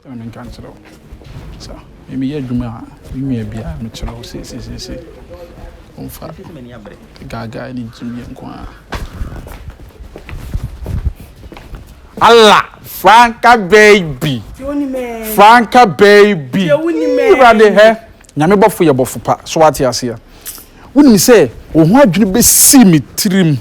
Ɛna me nka nkyerɛ wo sa me me yɛ adwuma a me nua bia me kyerɛ wo se se se se ɔmfa gaga ne gye me nko a. Allah franka baby franka baby irade hɛ nyame bɔfo yɛ bɔfo pa so ate aseɛ wonim sɛ wo ho adwene bɛsii me tirim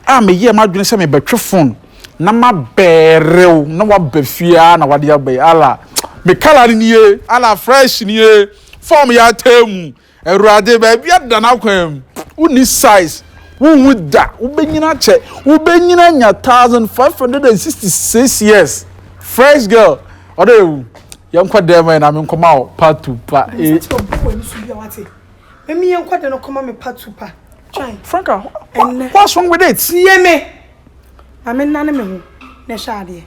a meyɛɛ m'adwene sɛ mebɛtwe phone na ma bɛɛrew na waba fie ara na wade aba yi ala me kala no nie ala fresh nie fam yɛ ataa mu awurade baabi ada no akwan mu wonni size wohu da wobɛnyina akyɛ wobɛnyina nya 1566 years fresh girl ɔdɛ ewu yɛnkɔ dɛm ma yɛ na menkɔma wo patu pa e Mami yɛnkɔ dɛm no kɔma me patu pa Franka, what's wrong with it? Tie me. Maame nnane me ho na ɛhwɛ adeɛ.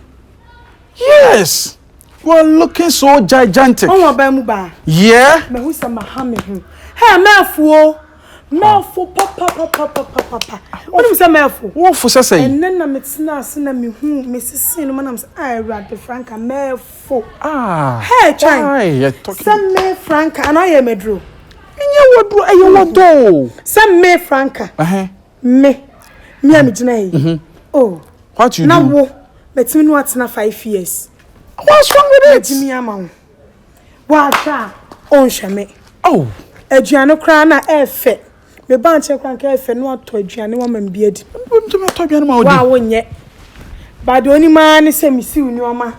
Yes! You are looking so gigantic. Ɔwɔ ɔbaa mu baa. Yeah. Mahu sɛ maha me ho. Hey, mɛɛfo o. Mɛɛfo papapapapapapa. Wonim sɛ mɛɛfo? Wofo sɛ sɛn? Ɛnɛ na metena ase na mehu mesesee no ma nam sɛ ah Awurade Franka mɛɛfo. Ah. Hey, twan. Why you talking? Sɛ me Franka anaa yɛ maduro. Nyɛ waduro ɛyɛ wadɔ o. Sɛ me Franka. Ɛhɛn. Me, me a me gyina yi. Mm-hmm. Oh. What you do? Na wo, mɛtumi no atena five years. What's wrong with it? Mɛtumi ama wo. Wahwɛ a, ɔnhwɛ me. Oh. Aduane koraa na ɛfɛ. Me ba nkyɛn koraa nka ɛfɛ no atɔ aduane wama me bi adi. Mɛtumi atɔ aduane ma wo di. Wa wonyɛ. Bade onima ne sɛ mesiw nneɛma.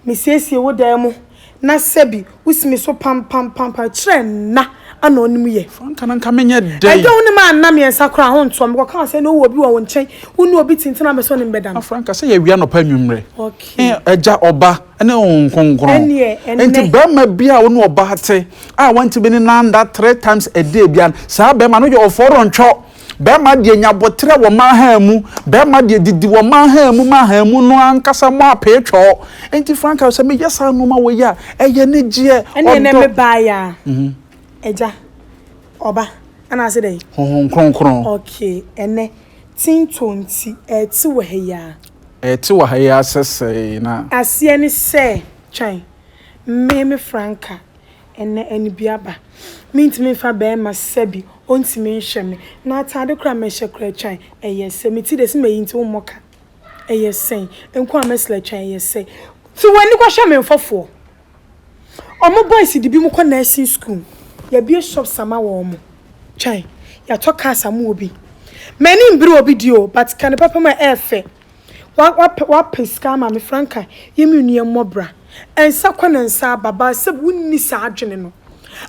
Mesiesie wo dan mu na sɛbi wo si me so pampampampae kyerɛ nna a na ɔne me yɛ. Fa nka na nka menyɛ dɛn? Ɛdɛ wo ne ma nna miɛnsa koraa ho ntoɔ me kɔka sɛ na ɔwɔ obi wɔ wo nkyɛn wo ne obi tintin a me sɛ ɔne me bɛda no. Afra nka sɛ yɛ awia anɔpa anwummerɛ eh Agya ɔba ne Honhom Kronkron ɛneɛ ɛnnɛ. Enti barima biara a wo ne ɔbaa te a wantumi ne no anda three times a day biara no saa barima no yɛ ɔfɔrɔntwɔ. Bɛɛma deɛ nya boterɛ wɔ mmaa han mu, bɛɛma deɛ didi wɔ mmaa han mu ma han mu no ankasa mu apee twɔɔ. Enti Franka, sɛ meyɛ saa nnoɔma wei a, ɛyɛ anigyeɛ, ɔdɔ. Ɛnneɛ nɛ me baa yɛ a, Agya, Ɔba, anaase dɛn? Honhom Kronkron. Okay, ɛnɛ, Tinto nti, ɛɛte wɔ ha yi ara. Ɛɛte wɔ ha yi ara sɛsɛɛ na. Aseɛ ne sɛ, twɛn, me, me Franka, ɛnnɛ anibiaba. Mentumi mfa bɛɛma sisa bi, ɔntumi nhwɛ me. N'ataade koraa mɛhyɛ koraa twan, ɛyɛ sɛ. Me ti dɛ, se mayi nti wommɔ ka, ɛyɛ sɛn. Nko a mɛsla twan, ɛyɛ sɛ. Te w'ani kɔhwɛ me mfɔfoɔ. Ɔmo boys de binom kɔ nursing school. Yɛabue shops ama wɔn, twan. Yɛatɔ cars ama obi. M'ani mbere obi deɛ o, but ka no pɛpɛm a ɛyɛ fɛ. Wa wa wapɛ sika ama me franka yi me nua mmɔ bra nsa kɔ na nsa aba baa sɛbi wonni saa adwene no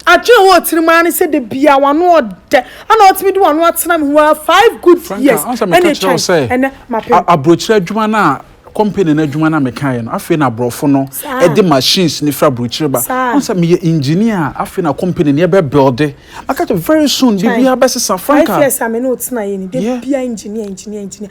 adwene wɔ tirim ara ne sɛ da bia wano ɔdɛ ana ɔtumi de wano atena me ho ara five good years ɛna ɛtwɛn ɛnɛ mapɛ aburokyerɛ adwuma no a company no adwuma no a mekaeɛ no afei na aborɔfo no de machines no firi aburokyerɛ ba ɔn sɛ meyɛ engineer a afei na company no yɛbɛ builde maka kyɛ very soon biribiara bɛsesa franka five years a me ne wo tenaeɛ ni da bia engineer engineer engineer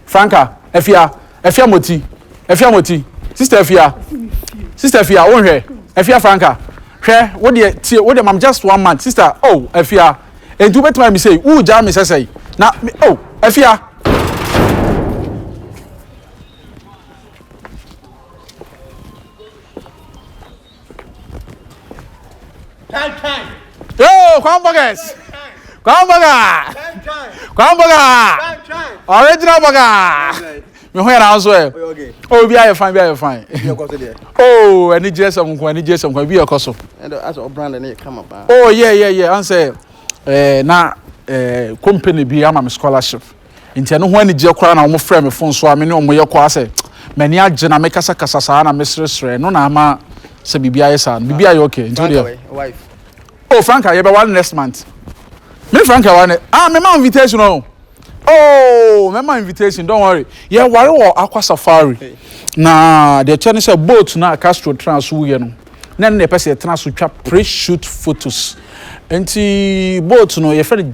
Franca, Afia, Afia Moti, Afia Moti, Sister Afia, Sister Afia, wo nhwɛ, Afia Franca, hwɛ, wo deɛ, tie, wo deɛ mam just one month, Sister, oh, Afia, enti wo bɛtumi ayɛ me sei, wuu gyaa me sɛsɛi, na, me, oh, Afia. Time, time. Yo, Kwambogas. Kwamboga. Time, time. Kwamboga. Time, time. Original boga. Me ho yɛra nso ɛ. Oh, bi ayɛ fine, bi ayɛ fine. Oh, ɛni gyerɛ sɛm nko, ɛni gyerɛ sɛm nko, bi yɛ kɔ so. Oh, yeah, yeah, yeah. Ansɛ, eh, na, eh, company bi ama me scholarship. Enti ɛno ho anigyeɛ koraa na wɔfrɛɛ me fon so a me ne wɔn yɛ kɔ ara sɛ m'ani agye na mekasakasa saa na meseresere ɛno na ama sɛ biribi ayɛ saa no biribi ayɛ okay nti wodeɛ oh Franca yɛbɛware next month me ne Franca ware ne ah mema invitation o oh. Oh, mɛma invitation, don't worry. Yeah, worry wɔ Aqua Safari. Hey. Na deɛ kyɛ ne sɛ boat na Castro tena so yɛ no. Na ne pɛ sɛ yɛtena so twa pre-shoot photos. Nti boat no yɛfrɛ no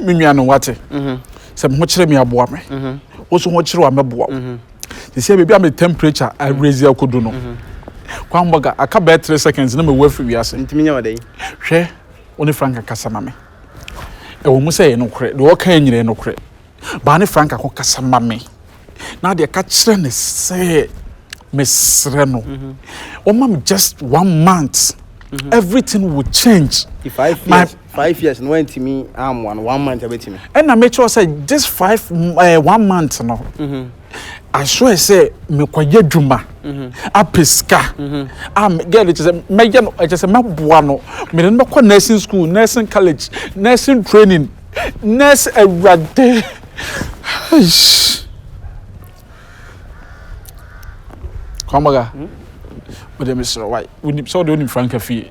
me nua no wate mhm. sɛ me ho kyerɛ me aboa me mhm. wo so ho kyerɛ wa mɛboa wo mhm. te sɛ baabi a me temperature arezi akodu no kwan bɔga aka bɛɛ three seconds na mewu afiri wiase hwɛ wo ne frank kasa ma me ɛwɔ mu sɛ yɛ nokorɛ deɛ ɔka nyina yɛ nokorɛ Baa ne Franca ho kasa ma me na deɛ ka kyerɛ ne sɛ mesrɛ no ɔma me just one month mm-hmm. everything will change. The five years my, five years no ɛntumi amoa no one month ɛbɛtumi. ɛna mekyerɛ sɛ this five uh, one month no. Mm -hmm. asoɛ sɛ mekɔyɛ adwuma apɛ sika a girl no kyɛ sɛ mɛyɛ no kyɛ sɛ mɛboa no mede no bɛkɔ nursing school nursing college nursing training nurse awurade kwamara wode mesrɛ wae wonim sɛ wode wonim franka fie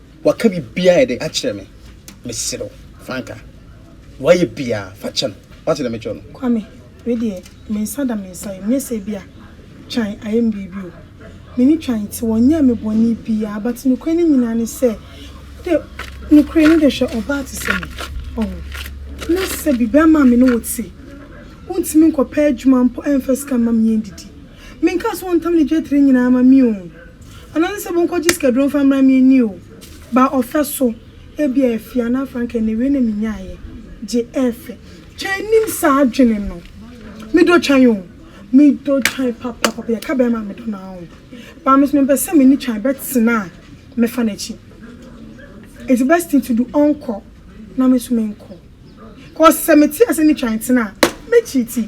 Waka biribiara a ɛde akyerɛ me. Mesrɛ wo, fa nka. Wayɛ biara, fa kyɛ no. Woate deɛ mekyerɛ no? Kwame, wei deɛ, me nsa da me nsa yam. Nyɛ sɛ ebia Twan ayɛ me biribi o. Me ne Twan te, wanyɛɛ me bɔne biara. But nokorɛ no nyinaa ne sɛ, wo de, nokorɛ ni de, hwɛ ɔbaa te sɛ me. Wahu? Na sɛ biribiara ma me ne wo te, wontumi nkɔpɛ adwuma mpo ɛmfa sika mma me yɛndidi. Menkaa sɛ wɔntam ne dwetire nyinaa ma me oo, anaa ne sɛ monkɔgye sikaduro mfa mmra me ani oo, baa ɔfɛ so, ebia afie anaa fa anka ɛnna wei na menyaeɛ, gye ɛɛ fɛ. Twɛn nnim saa adwene no. Medɔ Twɛn oo, medɔ Twɛn papapapa, yɛka bɛrima a medɔ no ara oo, baa me nso mempɛ sɛ me ne Twɛn bɛtena a mɛfa n'akyi. It's the best thing to do, ɔnkɔ na me nso menkɔ, cause sɛ mete ase ne Twɛn tena a, mɛkyiiti.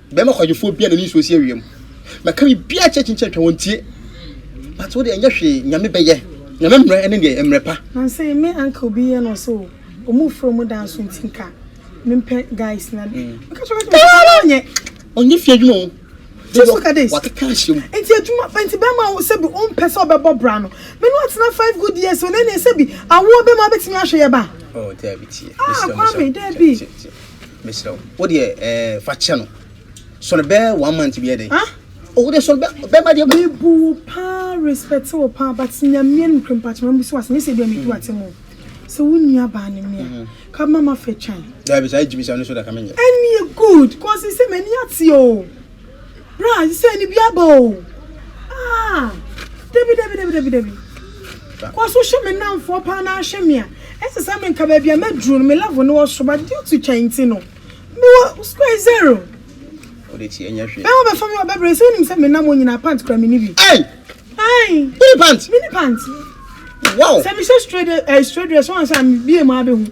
Bɛma kwagyefo bia nani nsuo si awia mu Mɛka biribiaa akyerɛ kyinkyin atwa wɔn tie But wo deɛ ɛnyɛ hwee Nyame bɛyɛ Nyame mmrɛ ne deɛ mmrɛ pa. Nansey me anka obi yɛ no ɔse oh ɔmo frɛ ɔmo da nso nti nka me mpɛ guys na de me ka kyerɛ ɔse ɔno ɔnyɛ. Ɔnyɛ fie adwuma oo deɛ wakeka ahyɛ mu. Nti adwuma nti bɛma sɛbi ɔmpɛ sɛ ɔbɛbɔ bra no me no atena five good years o na ɛneɛ sɛbi awoɔ bɛma abɛtumi ahwɛ yɛ ba ah Kwame daabi. mesrɛ wo wo deɛ ɛɛ fa kyɛ no sɔre bɛɛ one month bi ɛdɛ ah owó de sɔre bɛɛ bɛɛ ma deɛ. mi bu wo paa respect wo paa but nyamia no kura mpatsɔ ma bi so ase nye sɛ ebi a mi tu ate mu sɛ wo nua baa ne mia mhm. ka ma ma fɛ twan. dabi saa egyimi saa no so da ka mi nyɛ. ɛni yɛ good kɔsi sɛ mɛ ni ate o. Bra sɛ ne bi aba o. Ah, dabi dabi dabi dabi dabi. Kɔ so hwɛ me nnamfoɔ paa na ahwɛ me a. Ɛsɛ sɛ me nka baabi a mɛduru no me level no wɔ so but due to twɛn nti no me wɔ square zero. Wode ti ɛnyɛ hwee. Bɛma bɛfa me wɔ bɛbrɛ sɛ wonim sɛ me nam onyinaa pant kura me ni bi. Ei! Ai! Wone pant? Me ni pant. Wow! Sɛ me hyɛ straight eh, straight dress wɔn sɛ a me bie mu abɛhu.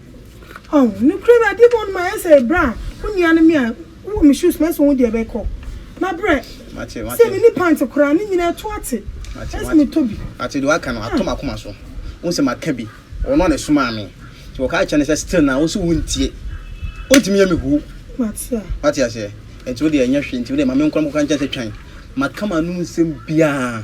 Ɔhh nokorɛ bi adeɛ bi wɔ hɔ nom a ɛyɛ sɛ berɛ a wo nua no me a wo wɔ me shoes mu ɛyɛ sɛ wo deɛ bɛkɔ na berɛ sɛ me ni pant koraa ne nyinaa ɛto ate ɛyɛ sɛ me tɔ bi. Mate deɛ waka no ato makoma so wohu sɛ maka bi ɔno a na ɛsomaa me nti wɔka kyerɛ no sɛ still na wo so wo ntie ɔntumi yɛ me huu wate aseɛ nti wo deɛ ɛnyɛ hwee nti wo deɛ ma me nkɔ na mekɔka nkyɛn sɛ twan maka ma nom nsɛm biaa.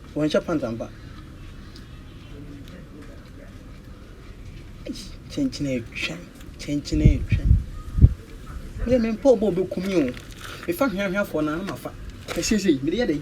Wɔnhyɛ pant ampa. Eish kyenkyen atwa kyenkyen atwa. Me deɛ mempɛ ɔbɔ ɔbɛku me o. Mefa hweahweafoɔ no a na mafa. Ɛsiesie mede yɛ dɛn?